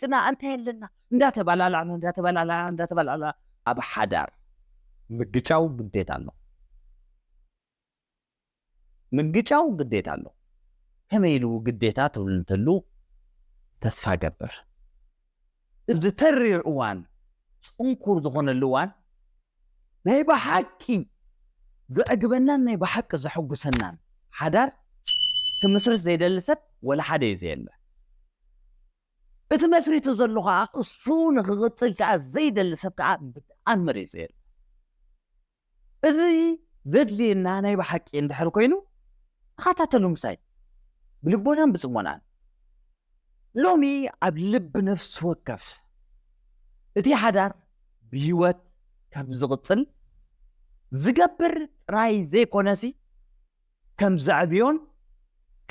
ጽናዕ እንታይ ኣለና እንዳተባላላዕና እንዳተባላላዕና እንዳተባላላዕና ኣብ ሓዳር ምግጫው ግዴታ ኣሎ ምግጫው ግዴታ ኣሎ ከመይ ኢሉ ግዴታ ትብል እንተሉ ተስፋ ገብር እዚ ተሪር እዋን ጽንኩር ዝኾነሉ እዋን ናይ ብሓቂ ዘዕግበናን ናይ ብሓቂ ዘሐጉሰናን ሓዳር ክምስርት ዘይደሊ ሰብ ወላ ሓደ እዩ ዘየለ እቲ መስሪቱ ዘሎ ከኣ እሱ ንክቅጽል ከኣ ዘይደሊ ሰብ ከኣ ብጣኣም መሪጹ የለን እዚ ዘድልየና ናይ ብሓቂ እንድሕር ኮይኑ ተኸታተሉ ምሳይ ብልቦናን ብጽሞናን ሎሚ ኣብ ልብ ነፍሲ ወከፍ እቲ ሓዳር ብህይወት ከም ዝቕጽል ዝገብር ጥራይ ዘይኮነሲ ከም ዘዕብዮን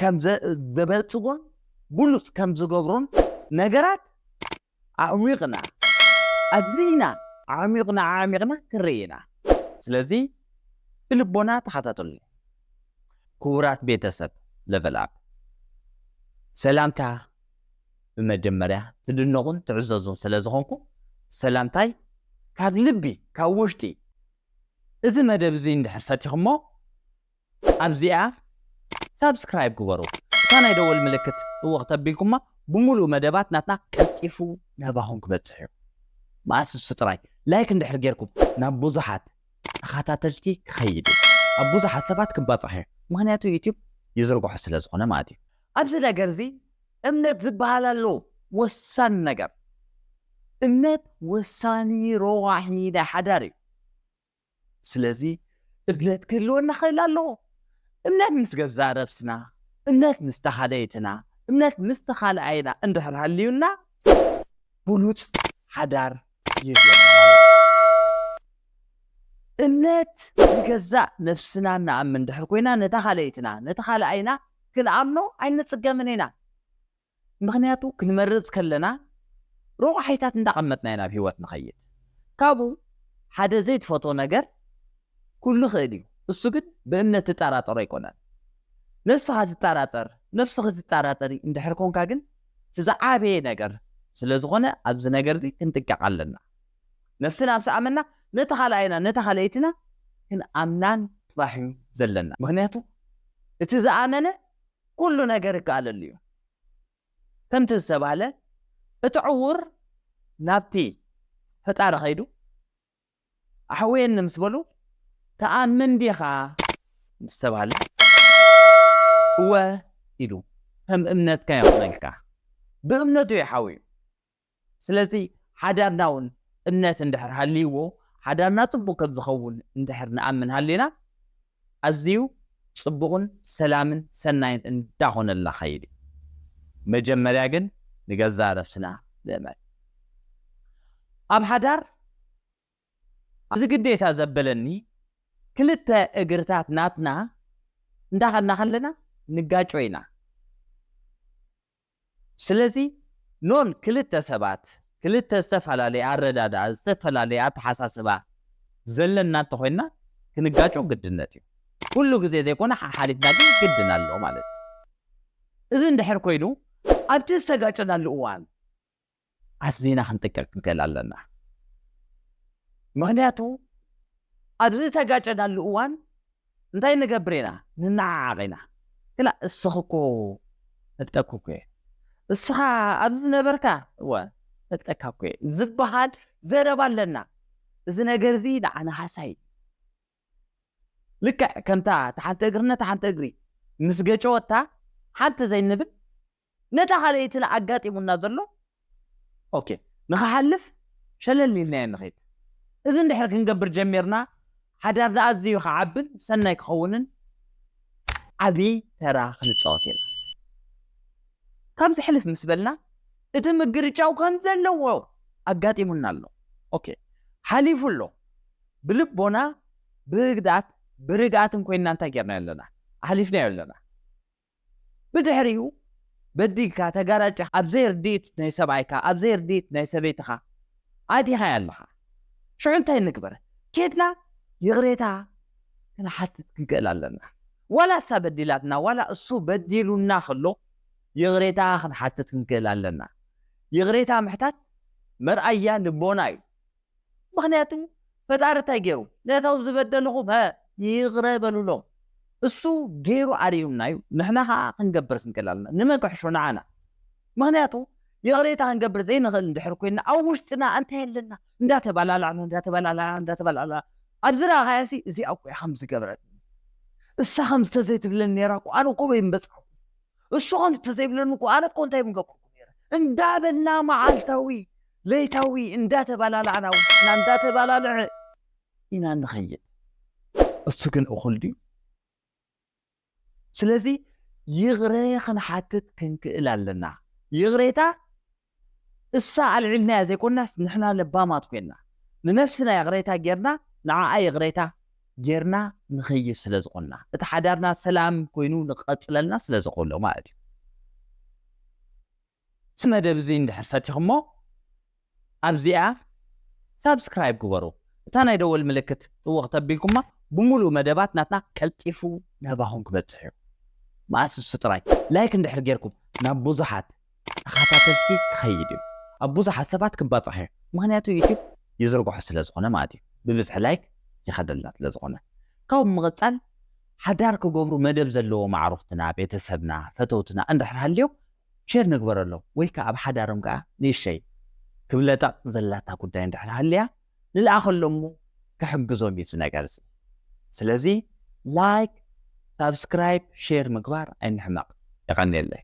ከም ዘበልጽጎን ብሉጽ ከም ዝገብሮን ነገራት ኣዕሚቕና ኣዚና ኣዕሚቕና ኣዕሚቕና ክንርኢ ኢና ስለዚ ብልቦና ተኸታተሉኒ ክቡራት ቤተ ሰብ ለቨል ኣፕ ሰላምታ ብመጀመርያ ትድነቑን ትዕዘዙን ስለ ዝኾንኩም ሰላምታይ ካብ ልቢ ካብ ውሽጢ እዚ መደብ እዚ እንድሕር ፈቲኹሞ ኣብዚኣ ሳብስክራይብ ግበሩ እታ ናይ ደወል ምልክት ጥውቕ ተቢልኩማ ብሙሉኡ መደባት ናትና ቀልጢፉ ናባኹም ክበጽሕ እዩ መኣስ ንሱ ጥራይ ላይክ እንድሕር ጌርኩም ናብ ቡዙሓት ተኻታተልቲ ክኸይድ እዩ ኣብ ቡዙሓት ሰባት ክባጻሕ እዩ ምኽንያቱ ዩቱብ ይዝርግሖ ስለ ዝኾነ ማለት እዩ ኣብዚ ነገር እዚ እምነት ዝብሃል ኣሎ ወሳኒ ነገር። እምነት ወሳኒ ረዋሒ ናይ ሓዳር እዩ። ስለዚ እምነት ክህልወና ክእል ኣለዎ። እምነት ምስ ገዛእ ነብስና፣ እምነት ምስ ተካለይትና፣ እምነት ምስ ተካልኣይና እንድሕር ሃልዩና ብሉጽ ሓዳር ይህልወና ማለት እዩ። እምነት ንገዛእ ነፍስና እንኣምን ድሕር ኮይና ነታ ካልኣይትና፣ ነቲ ካልኣይና፣ ክንኣምኖ ኣይንጽገምን ኢና። ምኽንያቱ ክንመርጽ ከለና ሮቋሒታት እንዳቐመጥና ኢና ኣብ ህይወት ንኸይድ። ካብኡ ሓደ ዘይትፈትዎ ነገር ኩሉ ይኽእል እዩ እሱ ግን ብእምነት ትጣራጠሮ ኣይኮነን። ነብስኻ ትጣራጠር ነፍስኺ ትጣራጠሪ እንድሕር ኮንካ ግን እቲ ዝዓበየ ነገር ስለ ዝኾነ ኣብዚ ነገር እዚ ክንጥቀቕ ኣለና። ነፍስና ምስ ኣመና ነቲ ካልኣይናን ነታ ካልኣይትናን ክንኣምናን ጥራሕ እዩ ዘለና። ምኽንያቱ እቲ ዝኣመነ ኩሉ ነገር ይከኣለሉ እዩ። ከምቲ ዝተባህለ እቲ ዕዉር ናብቲ ፈጣሪ ከይዱ ኣሕውየኒ ምስ በሉ፣ ትኣምን ዲኻ? ምስ ተባህለ፣ እወ ኢሉ፣ ከም እምነትካ ይኹነልካ። ብእምነቱ እዩ ሓውዩ። ስለዚ ሓዳርና እውን እምነት እንድሕር ሃልይዎ፣ ሓዳርና ጽቡቕ ከም ዝኸውን እንድሕር ንኣምን ሃሊና፣ ኣዝዩ ጽቡቕን ሰላምን ሰናይን እንዳኾነልና ኸይድ እዩ። መጀመርያ ግን ንገዛእ ነብስና ንእመን። ኣብ ሓዳር ኣዚ ግዴታ ዘበለኒ ክልተ እግርታት ናትና እንዳኸድና ከለና ንጋጮ ኢና። ስለዚ ኖን ክልተ ሰባት ክልተ ዝተፈላለየ ኣረዳድኣ ዝተፈላለየ ኣተሓሳስባ ዘለና እንተኾይንና ክንጋጮ ግድነት እዩ። ኩሉ ግዜ ዘይኮነ ሓሓሊፍና ግን ግድን ኣሎ ማለት እዩ። እዚ እንድሕር ኮይኑ ኣብቲ ዝተጋጨናሉ እዋን ኣዚና ክንጥንቀቅ ክንክእል ኣለና ምክንያቱ ኣብዚ ዝተጋጨናሉ እዋን እንታይ ንገብር ኢና ንናዓዓቅ ኢና ግና እስኪ እኮ ፈልጠኩ እኮ እየ እስኻ ኣብዚ ዝነበርካ እወ ፈልጠካ እኮ እየ ዝበሃል ዘረባ ኣለና እዚ ነገር እዚ ንዓና ሃሳይ ልክዕ ከምታ ተሓንቲ እግርነ ተሓንቲ እግሪ ምስ ገጨወታ ሓንቲ ዘይንብል ነታ ካልኣይትን ኣጋጢሙና ዘሎ ኦኬ ንኽሓልፍ ሸለል ኢልናዮ ንኺድ። እዚ እንድሕር ክንገብር ጀሚርና ሓዳርና ኣዝዩ ክዓብን ሰናይ ክኸውንን ዓቢ ተራ ክንጻወት ኢና። ካብዚ ሕልፍ ምስ በልና እቲ ምግርጫው ከም ዘለዎ ኣጋጢሙና ኣሎ ኦኬ ሓሊፉ ኣሎ ብልቦና ብህግዳት ብርግኣትን ኮይንና እንታይ ጌርናዮ ኣለና ኣሕሊፍናዮ ኣለና። ብድሕሪኡ በዲልካ ተጋራጭካ ኣብ ዘይርድኢት ናይ ሰብኣይካ ኣብ ዘይርድኢት ናይ ሰበይትኻ ኣእቲኻያ ኣለኻ ሽዑ እንታይ ንግበር ኬድና ይቕሬታ ክንሓትት ክንክእል ኣለና ዋላ እሳ በዲላትና ዋላ እሱ በዲሉና ከሎ ይቕሬታ ክንሓትት ክንክእል ኣለና ይቕሬታ ምሕታት መርኣያ ልቦና እዩ ምኽንያቱ ፈጣሪ እንታይ ገይሩ ነቶም ዝበደልኹም ሀ ይቕረ በሉሎም እሱ ገይሩ ኣርእዩና እዩ ንሕና ኸኣ ክንገብር ስንክል ኣለና ንመን ክሕሾ ንዓና ምኽንያቱ ይቕሬታ ክንገብር ዘይንኽእል እንድሕር ኮይና ኣብ ውሽጥና እንታይ ኣለና እንዳተባላላዕና እንዳተባላላዕና እንዳተባላላዕና ኣብ ዝረኣኻያ ሲ እዚኣ እኮ እያ ከምዚ ገብረት እሳ ከምዚ ተዘይትብለኒ ነይራ እኮ ኣነ እኮ በይን በጻሕኩ እሱ'ኸ እንተዘይብለኒ እኮ ኣነ እኮ እንታይ ምገበርኩ ነይረ እንዳበልና መዓልታዊ ለይታዊ እንዳተባላላዕና ውሽጥና እንዳተባላልዐ ኢና እንኸይድ እሱ ግን እኹል ድዩ ስለዚ ይቕረ ክንሓትት ክንክእል ኣለና ይቕሬታ እሳ ኣልዒልናያ ዘይኮናስ ንሕና ለባማት ኮይና ንነፍስና ይቕሬታ ጌርና ንዓኣ ይቕሬታ ጌርና ንኸይድ ስለ ዝኾንና እቲ ሓዳርና ሰላም ኮይኑ ንክቐጽለልና ስለ ዘኸሎ ማለት እዩ። እዚ መደብ እዚ እንድሕር ፈቲኹሞ ኣብዚኣ ሳብስክራይብ ግበሩ እታ ናይ ደወል ምልክት ጥውቕ ተቢልኩማ ብምሉእ መደባት ናትና ቀልጢፉ ናባኹም ክበጽሕ እዩ። መኣስ እሱ ጥራይ ላይክ እንድሕር ጌርኩም ናብ ብዙሓት ተኻታተልቲ ክኸይድ እዩ ኣብ ቡዙሓት ሰባት ክባጻሕ እዩ ምኽንያቱ ዩቱብ ይዝርግሖ ስለ ዝኾነ ማለት እዩ ብብዝሒ ላይክ ይኸደልና ስለ ዝኾነ ካብኡ ብምቕጻል ሓዳር ክገብሩ መደብ ዘለዎም ኣዕሩኽትና ቤተሰብና ፈተውትና እንድሕር ሃልዮም ሼር ንግበረሎም ወይ ክኣ ኣብ ሓዳሮም ክኣ ንእሽተይ ክብለጠቕ ዘላታ ጉዳይ እንድሕር ሃልያ ንልኣኸሎም እሞ ክሕግዞም እዩ እዚ ነገር እዚ ስለዚ ላይክ ሳብስክራይብ ሼር ምግባር ኣይንሕመቅ የቀንየለይ።